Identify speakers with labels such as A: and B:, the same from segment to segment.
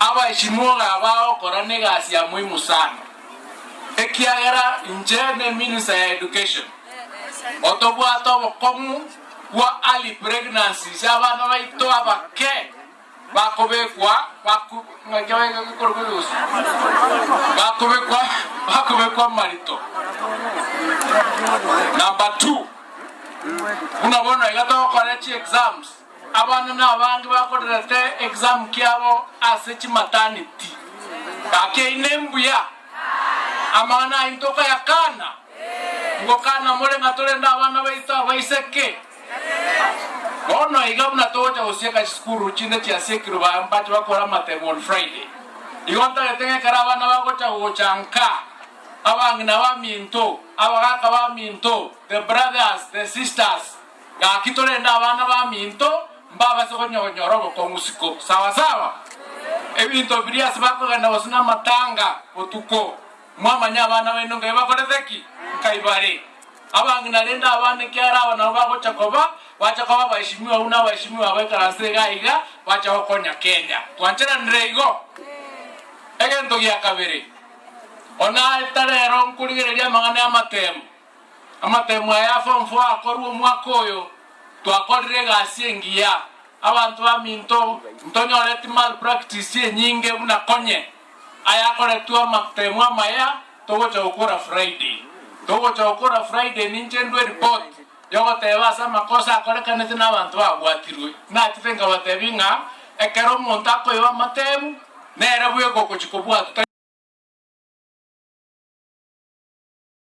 A: Abaesinwog'a aba agokora negasi ya moimu sana, ekiagera inche ne minister ya education otobwate obokong'u bwa early pregnancies abana baito abake bakobekwa bakobekwa marito. Number two, buna bono iga togokora chi exams. Abana nabange bakorerete exam kiabo ase chimataneti. Gaki eyine mbuya. Amang'ana ayio ntokayakana? Ngokana more ng'a torende abana baito abaiseke. Bono iga buna togocha gosieka chisukuru chinde chia siekirwe ba mbache bakore amatebo on Friday. Igo ntagete ng'a ekero abana bagocha gocha nka, abang'ina baminto, abagaka baminto, the brothers, the sisters, Gaki torende abana baminto mbabase gonya gonyora obokong'u isiko. Sawa sawa? Ebinto biria ase bakogenda gose namatanga botuko, mwamanya abana baino nkai bakorete ki? Nkai bare. Abang'ina arende abana ekiara aba nabo bagocha koba, bacha koba abaeshimiwa abwo na abaeshimiwa abo ekaranse iga aiga bacha gokonya Kenya. Twancheranire igo? Egento gia kabere, onaa etarero nkorigereria amang'ana ya amatemo, Amatemo aya form four akorwa omwaka oyo twakorire egasi engiya abanto baminto ntonyoreti malpractice enyinge buna konye ayakoretwe amatemo amaya togocha gokora Friday togocha gokora Friday ninche ndue report yogoteba ase amakosa akorekanete nabanto babwatirwe nachete nkabatebi ng'a ekero omonto akoiba amatemu nere bweka okochi kobwatwa tari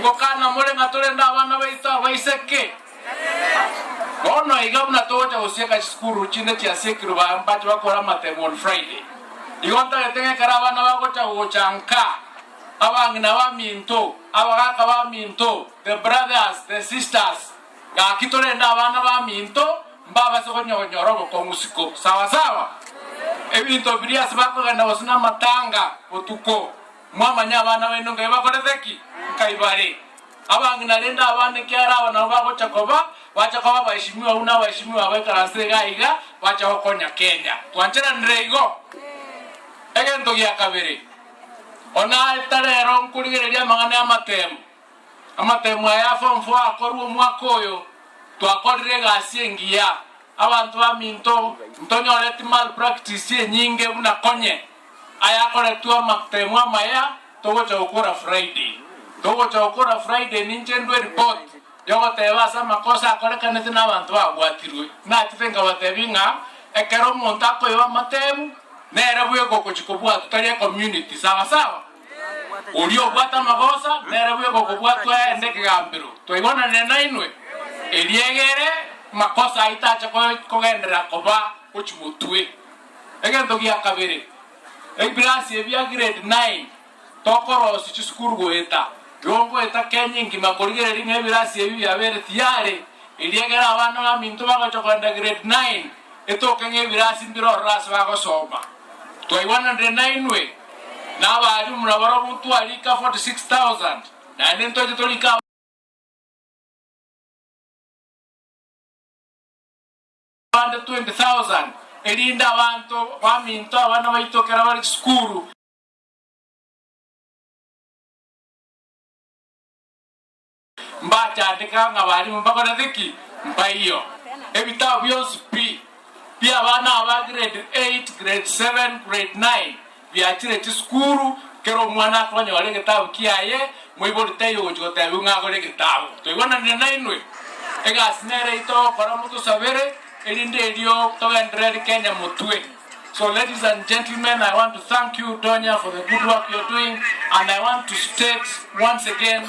A: Ngokana, More ng'a torende abana baito abaiseke? Bono iga buna togocha gosieka chisukuru chinde chiasiekirwe ba mbache bakore amatemo on Friday, igo ntagete ng'a ekero abana bagocha gocha nka, abang'ina baminto, abagaka baminto, the brothers, the sisters, gaki torende abana baminto, mbabase konya konyora obokong'u isiko. Sawa sawa? Ebinto biria ase bakogenda gose namatanga botuko. Mwamanya abana baino ngai bakorete ki? Nkai bare. Abang'ina naende abana ekiagera aba nabwo bagocha koba, bacha koba abaeshimiwa abwo na abaeshimiwa baikaranse iga iga, bacha gokonya Kenya. Twancheranire igo? Egento gia kabere, ona tari ero nkorigereria amang'ana y'amatemu, amatemu aya ya form four akorwa omwaka oyo, twakorire egasi engiya, abanto baminto ntonyoreti malpractice enyinge buna konye. Ayakoretwe amatemo amaya togocha gokora Friday. Togocha gokora Friday ninche ndue report yogoteba ase amakosa akorekanete na abanto babwatirwe. Natete nkabatebia ng'a ekero omonto akoiba amatemu nere bweka okochi kobwatwa tari ecommunity. Sawa sawa? Oria obwate amagosa nere bweka okobwatwa aende ekegambero. Twaigwananire nainwe? Eria egere makosa aito ache kogenderera koba gochi motwe. Egento gia kabere, ebirasi ebi bia grade nine tokorosio chisukuru goeta igo ngoeta Kenya engima korigereria ng'a ebirasi ebi biabere tiyare, erio ekero abana baminto bagocha kogenda grade nine etoke ng'a ebirasi mbire ororo ase bagosoma. Twaigwananire nainwe na abaalimu buna barobwo ntwariika forty six thousand naende ntoche toriike aba. abande 20,000, erinde abanto baminto abana baito ekero bare chisukuru. Mbachandeka ng'a abalimu mbakorete ki? Mbaiyo ebitabu bionsi pi bi'abana aba grade eight, grade seven, grade nine. Biachire chisukuru, kera omwana akonyora egetabu kiaye, moibori taiyo ogochia gotebiwa ng'a agore egetabu. Twaigwananire nainwe? Egasi nere eyio togokora motosabere erinde erio togenderere eri Kenya motwe. So ladies and gentlemen, I want to thank you Donya for the good work you're doing and I want to state once again,